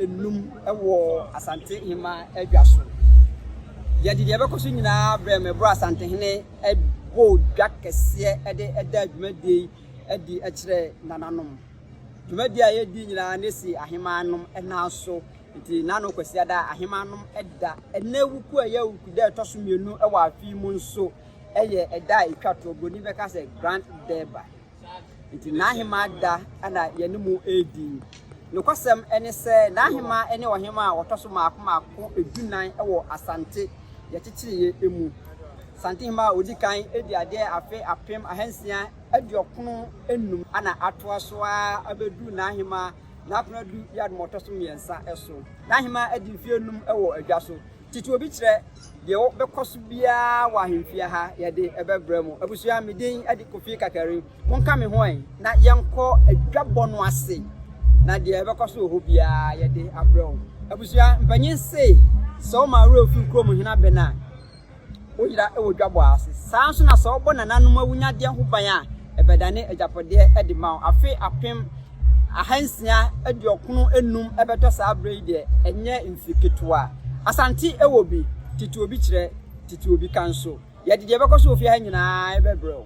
nnum wɔ Asante Ahemmaa adwa so. Yɛde deɛ ɛbɛkɔ so nyinaa brɛ me bro Asantehene bɔ dwa kɛseɛ de da dwumadie yi adi kyerɛ nananom. Dwumadie a yɛdi nyinaa ne si Ahemmaa nom nan so. Nti nano Kwasiada Ahemmaa nom da. Ɛnɛ wuku a ɛyɛ wuku da ɛtɔ so mmienu wɔ afe yi mu nso yɛ ɛda a ɛtwa toɔ. Buroni bɛka sɛ Grand Durbar. Enti n'ahemmaa da na yɛne mo redi. Nokwasɛm ne sɛ, n'ahemmaa ne ɔhemmaa a wɔtɔ so mmaako mmaako dunan wɔ Asante yɛkyekyereeɛ mu. Santehemmaa a ɔdi kan dii adeɛ afe apem ahansia aduɔkron nnum na atoa so ara abɛduru n'ahemmaa N'Akonadu Yaadom a ɔtɔ so mmiɛnsa so. N'ahemmaa adi mfeɛ nnum wɔ adwa so. Tete obi kyerɛ deɛ wɔ bɛkɔ so biara wɔ ahemfie ha yɛde ɛbɛbrɛ mo. Abusua me din ɛde Kofi Kakari. Monka me ho ɛ na yɛnkɔ adwabɔ no ase na deɛ ɛbɛkɔ so wɔ hɔ biara yɛde abrɛ wo. Abusua mpanyin se sɛ woma awura ofi kurom hena bɛ no a Woyera wɔ dwabɔ ase. Saa ara nso na sɛ wɔbɔ nananom awunyadeɛ ho ban a, ɛbɛdane agyapadeɛ de ma wo. Afe apem ahansia aduɔkono nnum bɛtɔ saa berɛ yi deɛ, ɛnyɛ mfe ketewa. Asante wɔ bi, tete obi kyerɛ, tete obi ka nso. Yɛde deɛ ɛbɛkɔ so wɔ fie ha nyinaa bɛbrɛ wo.